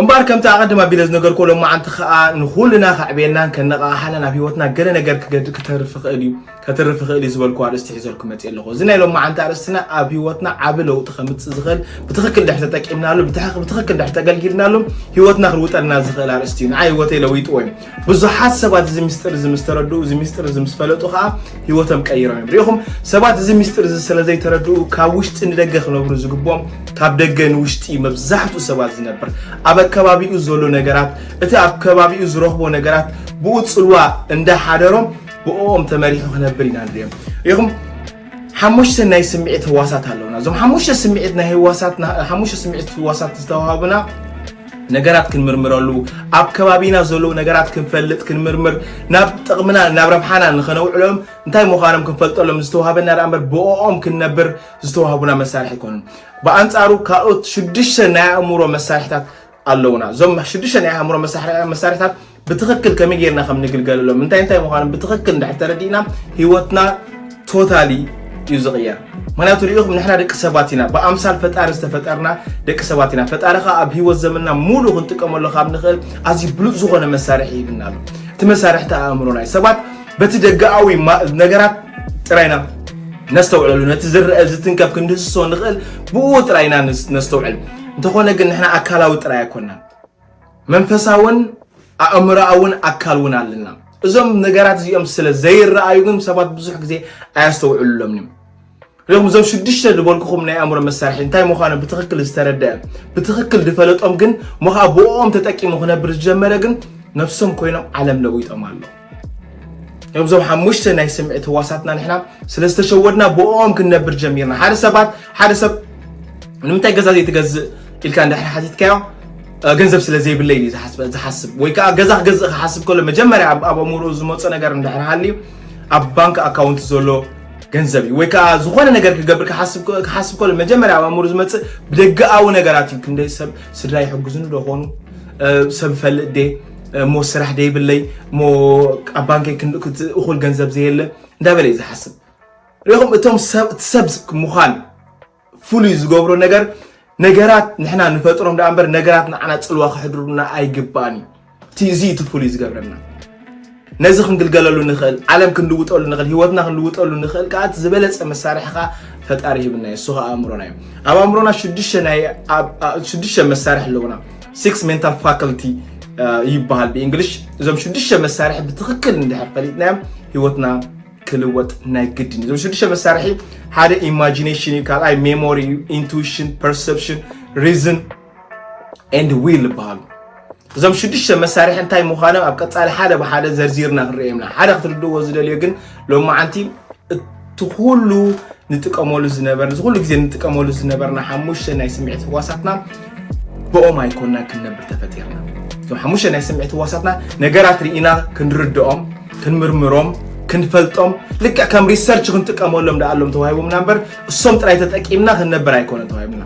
እምበኣር ከምቲ ኣቐድም ኣቢለ ዝነገርኩ ሎማዓንቲ ከዓ ንኹልና ከዕብየልናን ከነቓቕሓናን ኣብ ሂወትና ገለ ነገር ክተርፍ ይኽእል እዩ ከትርፍ ይኽእል እዩ ዝበልኩ ኣርእስቲ ሒዘልኩ መፅእ ኣለኹ እዚ ናይ ሎማዓንቲ ኣርእስትና ኣብ ሂወትና ዓቢ ለውጢ ከምፅእ ዝኽእል ብትኽክል ድሕር ተጠቂምናሉ ብትኽክል ድሕር ተገልጊልናሉ ሂወትና ክልውጠልና ዝኽእል ኣርእስቲ እዩ ንዓ ሂወተይ ለዊጥዎ እዩ ብዙሓት ሰባት እዚ ምስጢር እዚ ምስ ተረድኡ እዚ ምስጢር እዚ ምስ ፈለጡ ከዓ ህይወቶም ቀይሮም እዮም ሪኢኹም ሰባት እዚ ምስጢር እዚ ስለ ዘይተረድኡ ካብ ውሽጢ ንደገ ክነብሩ ዝግብኦም ካብ ደገ ንውሽጢ እዩ መብዛሕትኡ ሰባት ዝነብር ኣብ ኣከባቢኡ ዘሎ ነገራት እቲ ኣብ ከባቢኡ ዝረኽቦ ነገራት ብኡ ፅልዋ እንዳሓደሮም ብኦም ተመሪሑ ክነብር ኢና ንሪኦም ሪኢኹም ሓሙሽተ ናይ ስምዒት ህዋሳት ኣለውና እዞም ሓሙሽተ ስምዒት ናይ ህዋሳት ሓሙሽተ ስምዒት ህዋሳት ዝተዋሃቡና ነገራት ክንምርምረሉ ኣብ ከባቢና ዘለዉ ነገራት ክንፈልጥ ክንምርምር ናብ ጥቕምና ናብ ረብሓና ንኸነውዕሎም እንታይ ምዃኖም ክንፈልጠሎም ዝተዋሃበና ደኣ እምበር ብኦኦም ክንነብር ዝተዋህቡና መሳርሒ ኣይኮኑን ብኣንጻሩ ካልኦት ሽዱሽተ ናይ ኣእምሮ መሳርሒታት ኣለውና እዞም ሽዱሽተ ናይ ኣእምሮ መሳርሒታት ብትኽክል ከመይ ጌርና ከም ንግልገለሎም እንታይ እንታይ ምዃኖም ብትኽክል እንድሕር ተረዲእና ህይወትና ቶታሊ እዩ ዝቕየር ምክንያቱ ሪኢኹም ንሕና ደቂ ሰባት ኢና ብኣምሳል ፈጣሪ ዝተፈጠርና ደቂ ሰባት ኢና ፈጣሪ ከዓ ኣብ ህይወት ዘመንና ሙሉ ክንጥቀመሉ ካብ ንኽእል ኣዝዩ ብሉፅ ዝኾነ መሳርሒ ይብና ኣሎ እቲ መሳርሕቲ ኣእምሮና እዩ ሰባት በቲ ደጋኣዊ ነገራት ጥራይና ነስተውዕለሉ ነቲ ዝረአ ዝትንከፍ ክንድህስሶ ንኽእል ብኡ ጥራይና ነስተውዕል እንተኾነ ግን ንሕና ኣካላዊ ጥራይ ኣይኮንና መንፈሳውን ኣእምሮኣውን ኣካል እውን ኣለና። እዞም ነገራት እዚኦም ስለ ዘይረኣዩ ግን ሰባት ብዙሕ ግዜ ኣያስተውዕሉሎምን እዮም። ሪኹም እዞም ሽዱሽተ ዝበልኩኹም ናይ ኣእምሮ መሳርሒ እንታይ ምዃኑ ብትኽክል ዝተረድአ ብትኽክል ዝፈለጦም ግን እሞ ከዓ ብኦም ተጠቂሙ ክነብር ዝጀመረ ግን ነፍሶም ኮይኖም ዓለም ለዊጦም ኣሎ ከምዞም ሓሙሽተ ናይ ስምዒት ህዋሳትና ንሕና ስለ ዝተሸወድና ብኦም ክንነብር ጀሚርና ሓደ ሰባት ሓደ ሰብ ንምንታይ ገዛ ዘይትገዝእ ኢልካ እንድሕር ሓቲትካዮ ገንዘብ ስለ ዘይብለይ እዩ ዝሓስብ ወይ ከዓ ገዛ ክገዝእ ክሓስብ ከሎ መጀመርያ ኣብ ኣእምሮ ዝመፆ ነገር እንድሕር ሃልዩ ኣብ ባንክ ኣካውንት ዘሎ ገንዘብ እዩ ወይ ከዓ ዝኾነ ነገር ክገብር ክሓስብ ከሎ መጀመርያ ኣብ ኣእምሮ ዝመፅእ ብደገኣዊ ነገራት እዩ ክንደይ ሰብ ስድራ ይሕግዙኒ ዶ ኾኑ ሰብ ፈልጥ ዴ እሞ ስራሕ ደይብለይ እሞ ኣብ ባንከይ እኹል ገንዘብ ዘየለ እንዳበለ እዩ ዝሓስብ ሪኹም እቶም ሰብ ምዃን ፍሉይ ዝገብሮ ነገር ነገራት ንሕና ንፈጥሮም ደኣ እምበር ነገራት ንዓና ፅልዋ ክሕድሩና ኣይግባእን እዩ እዚ እቲ ፍሉይ ዝገብረና ነዚ ክንግልገለሉ ንኽእል ዓለም ክንልውጠሉ ንኽእል ህይወትና ክንልውጠሉ ንኽእል ከዓ እቲ ዝበለፀ መሳርሒ ከዓ ፈጣሪ ሂብና እዩ እሱ ከዓ ኣእምሮና እዩ ኣብ ኣእምሮና ሽዱሽተ ናይ ኣብ- ኣ- ሽዱሽተ መሳርሒ ኣለውና ሲክስ ሜንታል ፋካልቲ ይበሃል ብእንግሊሽ እዞም ሽዱሽተ መሳርሒ ብትክክል እንድሕር ፈሊጥናዮም ህይወትና ክልወጥ ናይ ግድን እዩ እዞም ሽዱሽተ መሳርሒ ሓደ ኢማጂኔሽን እዩ ካልኣይ ሜሞሪ እዩ ኢንቱዊሽን ፐርሰፕሽን ሪዝን ኤንድ ዊል ይበሃሉ እዞም ሽዱሽተ መሳርሒ እንታይ ምዃኖም ኣብ ቀፃሊ ሓደ ብሓደ ዘርዚርና ክንርእየምና ሓደ ክትርድእዎ ዝደልዮ ግን ሎም መዓንቲ እቲ ኩሉ ንጥቀመሉ ዝነበር ዝኩሉ ግዜ ንጥቀመሉ ዝነበርና ሓሙሽተ ናይ ስምዒት ህዋሳትና ብኦም ኣይኮና ክንነብር ተፈጢርና እዞም ሓሙሽተ ናይ ስምዒት ህዋሳትና ነገራት ርኢና ክንርድኦም ክንምርምሮም ክንፈልጦም ልክዕ ከም ሪሰርች ክንጥቀመሎም ደኣሎም ተዋሂቦምና እምበር እሶም ጥራይ ተጠቂምና ክንነብር ኣይኮነን ተዋሂብና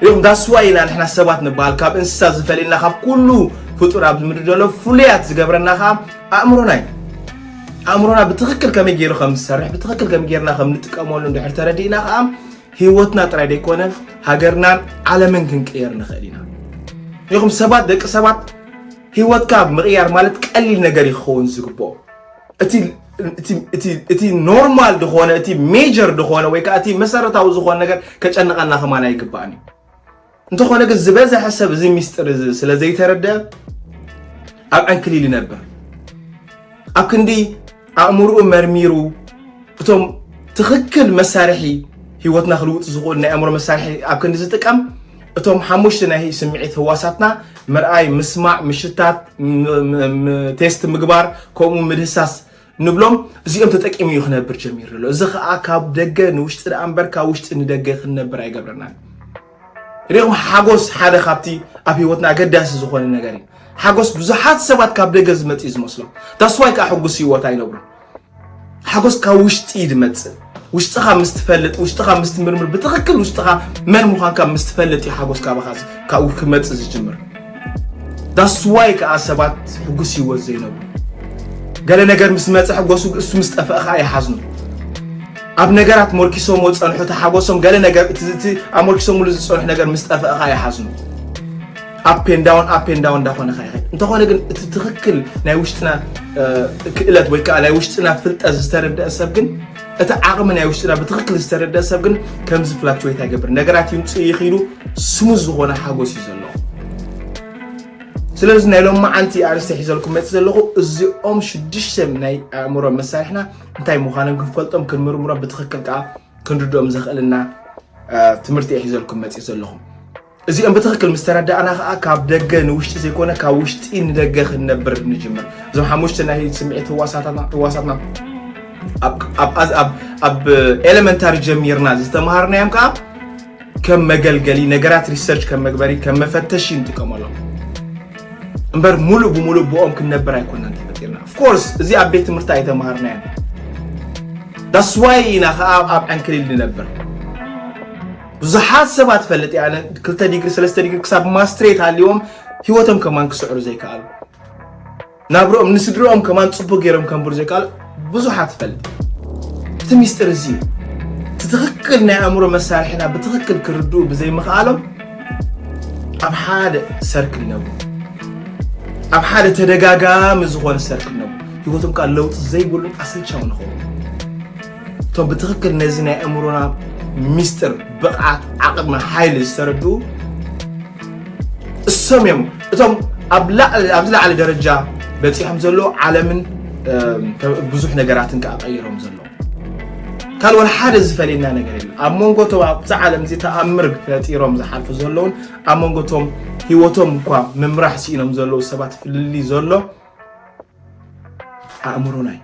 እም ዳስ ዋይ ኢና ንሕና ሰባት ንበሃል ካብ እንስሳ ዝፈልየና ካብ ኩሉ ፍጡር ኣብዚ ምድሪ ዘሎ ፍሉያት ዝገብረና ከዓ ኣእምሮና እዩ ኣእምሮና ብትኽክል ከመይ ገይሩ ከም ዝሰርሕ ብትኽክል ከመይ ገይርና ከም ንጥቀመሉ እንድሕር ተረዲእና ከዓ ህይወትና ጥራይ ዘይኮነ ሃገርናን ዓለምን ክንቅየር ንኽእል ኢና ይኹም ሰባት ደቂ ሰባት ህይወትካ ምቕያር ማለት ቀሊል ነገር ይኸውን ዝግብኦ እቲ እቲ ኖርማል ዝኾነ እቲ ሜጀር ዝኾነ ወይ ከዓ እቲ መሰረታዊ ዝኾነ ነገር ከጨንቐና ከማን ኣይግባእን እዩ እንተኾነ ግን ዝበዝሐ ሰብ እዚ ሚስጥር እዚ ስለ ዘይተረደ ኣብ ዕንክሊል ይነብር ኣብ ክንዲ ኣእምርኡ መርሚሩ እቶም ትኽክል መሳርሒ ሂወትና ክልውጥ ዝኽእል ናይ ኣእምሮ መሳርሒ ኣብ ክንዲ ዝጥቀም እቶም ሓሙሽተ ናይ ስምዒት ህዋሳትና ምርኣይ፣ ምስማዕ፣ ምሽታት፣ ቴስት ምግባር ከምኡ ምድህሳስ ንብሎም እዚኦም ተጠቂሙ እዩ ክነብር ጀሚሩ ዘሎ። እዚ ከዓ ካብ ደገ ንውሽጢ ደኣ እምበር ካብ ውሽጢ ንደገ ክንነብር ኣይገብረናን። ሪኹም ሓጎስ ሓደ ካብቲ ኣብ ህይወትና ኣገዳሲ ዝኾነ ነገር እዩ። ሓጎስ ብዙሓት ሰባት ካብ ደገ ዝመፅ እዩ ዝመስሎም። ዳስዋይ ከዓ ሕጉስ ህይወት ኣይነብሩን። ሓጎስ ካብ ውሽጢ እዩ ዝመፅእ ውሽጥኻ ምስ ትፈልጥ ውሽጥኻ ምስ ትምርምር ብትኽክል ውሽጥኻ መን ምዃንካ ምስ ትፈልጥ እዩ ሓጎስ ካባኻ ካብኡ ክመፅእ ዝጅምር ዳስዋይ ከዓ ሰባት ሕጉስ ህይወት ዘይነብሩ ገለ ነገር ምስ መፀ ሕጎሱ እሱ ምስ ጠፍአ ከዓ ይሓዝኑ ኣብ ነገራት ሞርኪሶሞ ፀንሑ ተሓጎሶም ገለ ነገር እቲ ኣሞርኪሶምሉ ዝፀንሑ ነገር ምስ ጠፍአ ከዓ ይሓዝኑ ኣፔንዳውን ኣፔንዳውን እንዳኾነ ከይኸድ እንተኾነ ግን እቲ ትኽክል ናይ ውሽጥና ክእለት ወይ ከዓ ናይ ውሽጥና ፍልጠት ዝተረደአ ሰብ ግን እቲ ዓቕሚ ናይ ውሽጥና ብትኽክል ዝተረደአ ሰብ ግን ከምዚ ፍላክቹዌት ኣይገብር ነገራት ይምፅ ይኽኢሉ ስሙ ዝኾነ ሓጎስ እዩ ዘለዎ ስለዚ ናይ ሎም መዓልቲ ኣርስተ ሒዘልኩም መፅ ዘለኹ እዚኦም ሽዱሽተ ናይ ኣእምሮ መሳርሕና እንታይ ምዃኖም ክንፈልጦም ክንምርምሮም ብትኽክል ከዓ ክንርድኦም ዘኽእልና ትምህርቲ ሒዘልኩም መፅ ዘለኹም እዚኦም ብትኽክል ምስ ተረዳእና ከዓ ካብ ደገ ንውሽጢ ዘይኮነ ካብ ውሽጢ ንደገ ክንነብር ንጅምር እዞም ሓሙሽተ ናይ ስምዒት ህዋሳትና ህዋሳትና ኣብ- ኣብ- ኣብ- ኣብ- ኣብ ኤሌመንታሪ ጀሚርና ዝተምሃርናዮም ከዓ ከም መገልገሊ ነገራት ሪሰርች ከም መግበሪ ከም መፈተሺ ንጥቀመሎም እምበር ሙሉእ ብሙሉእ ብኦም ክንነብር ኣይኮናን ተፈጢርና ኦፍኮርስ እዚ ኣብ ቤት ትምህርቲ ኣይተምሃርናዮ ዳስዋይ ኢና ከዓ ኣብ ዕንክሊል ንነብር ብዙሓት ሰባት እፈልጥ እየ ኣነ ክልተ ዲግሪ ሰለስተ ዲግሪ ክሳብ ማስትሬት ሃልዎም ሂወቶም ከማን ክስዕሩ ዘይከኣሉ ናብርኦም ንስድርኦም ከማን ፅቡቅ ገይሮም ከንብሩ ዘይከኣሉ ብዙሓት እፈልጥ እቲ ሚስጢር እዚ እዩ እቲ ትኽክል ናይ ኣእምሮ መሳርሒና ብትኽክል ክርድኡ ብዘይምኽኣሎም ኣብ ሓደ ሰርክል ነቡ ኣብ ሓደ ተደጋጋሚ ዝኾነ ሰርክል ነቡ ሂወቶም ከዓ ለውጢ ዘይብሉን ኣሰልቻዊ ንኸውን እቶም ብትኽክል ነዚ ናይ ኣእምሮና ሚስጥር ብቕዓት ዓቕሚ ሓይሊ ዝተረድኡ እሶም እዮም እቶም ኣብዚ ላዕሊ ደረጃ በፂሖም ዘሎ ዓለምን ብዙሕ ነገራትን ከዓ ቀይሮም ዘሎ ካል ወላ ሓደ ዝፈልየና ነገር የለ ኣብ መንጎ እቶም ኣብዚ ዓለም እዚ ተኣምር ፈጢሮም ዝሓልፉ ዘለውን ኣብ መንጎ እቶም ሂወቶም እኳ ምምራሕ ስኢኖም ዘለዉ ሰባት ፍልልይ ዘሎ ኣእምሮና እዩ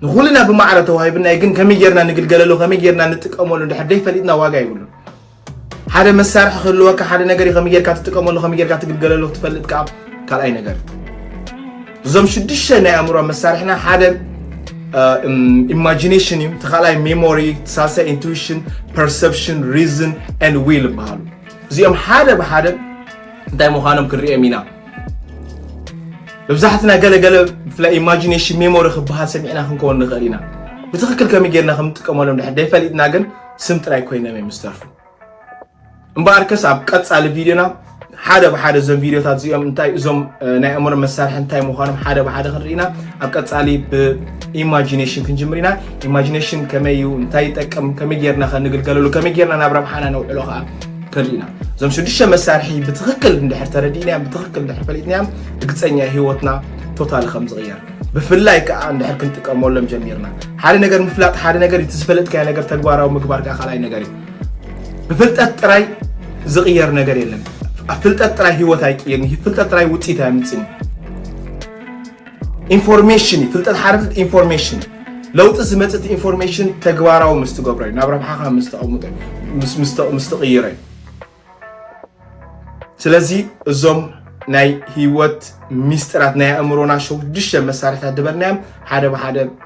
ንኹልና ብማዕረ ተዋሂብና ግን ከመይ ጌርና ንግልገለሉ ከመይ ጌርና ንጥቀመሉ እንድሕር ደይፈሊጥና ዋጋ ይብሉ ሓደ መሳርሒ ክህልወካ ሓደ ነገር እዩ ከመይ ጌርካ ትጥቀመሉ ከመይ ጌርካ ትግልገለሉ ክትፈልጥ ከዓ ካልኣይ ነገር እዞም ሽዱሽተ ናይ ኣእምሮ መሳርሕና ሓደ ኢማጂኔሽን እዩ እቲ ካልኣይ ሜሞሪ ሳልሳይ ኢንቱዊሽን ፐርሰፕሽን ሪዝን ን ዊል ይበሃሉ እዚኦም ሓደ ብሓደ እንታይ ምዃኖም ክንሪኦም ኢና መብዛሕትና ገለ ገለ ብፍላይ ኢማጂኔሽን ሜሞሪ ክበሃል ሰሚዕና ክንከውን ንኽእል ኢና ብትኽክል ከመይ ጌርና ከም እንጥቀመሎም ድሕር ደይፈሊጥና ግን ስም ጥራይ ኮይኖም እዮም ዝተርፉ እምበኣር ከስ ኣብ ቀፃሊ ቪድዮና ሓደ ብሓደ እዞም ቪድዮታት እዚኦም እንታይ እዞም ናይ ኣእምሮ መሳርሒ እንታይ ምዃኖም ሓደ ብሓደ ክንርኢና ኣብ ቀፃሊ ብኢማጂኔሽን ክንጅምር ኢና ኢማጂኔሽን ከመይ እዩ እንታይ ይጠቅም ከመይ ጌርና ከንግልገለሉ ከመይ ጌርና ናብ ረብሓና ነውዕሎ ከዓ ተሊእና እዞም ሽዱሽተ መሳርሒ ብትኽክል እንድሕር ተረዲእናዮም ብትኽክል እንድሕር ፈሊጥናዮም ርግፀኛ ህይወትና ቶታሊ ከም ዝቕየር ብፍላይ ከዓ እንድሕር ክንጥቀመሎም ጀሚርና ሓደ ነገር ምፍላጥ ሓደ ነገር እቲ ዝፈለጥካዮ ነገር ተግባራዊ ምግባር ከዓ ካልኣይ ነገር እዩ ብፍልጠት ጥራይ ዝቕየር ነገር የለን ኣብ ፍልጠት ጥራይ ህይወት ኣይቅየርን ፍልጠት ጥራይ ውፅኢት ኣየምፅን እዩ ኢንፎርሜሽን ፍልጠት ሓረፍት ኢንፎርሜሽን ለውጢ ዝመፅእ እቲ ኢንፎርሜሽን ተግባራዊ ምስ ትገብሮ እዩ ናብ ረብሓኻ ምስ ተቐምጦ ምስ- ምስ ተ- ምስ ትቕይሮ እዩ ስለዚ እዞም ናይ ህይወት ሚስጥራት ናይ ኣእምሮና ሸዱሽተ መሳርሕታት ዝበልናዮም ሓደ ብሓደ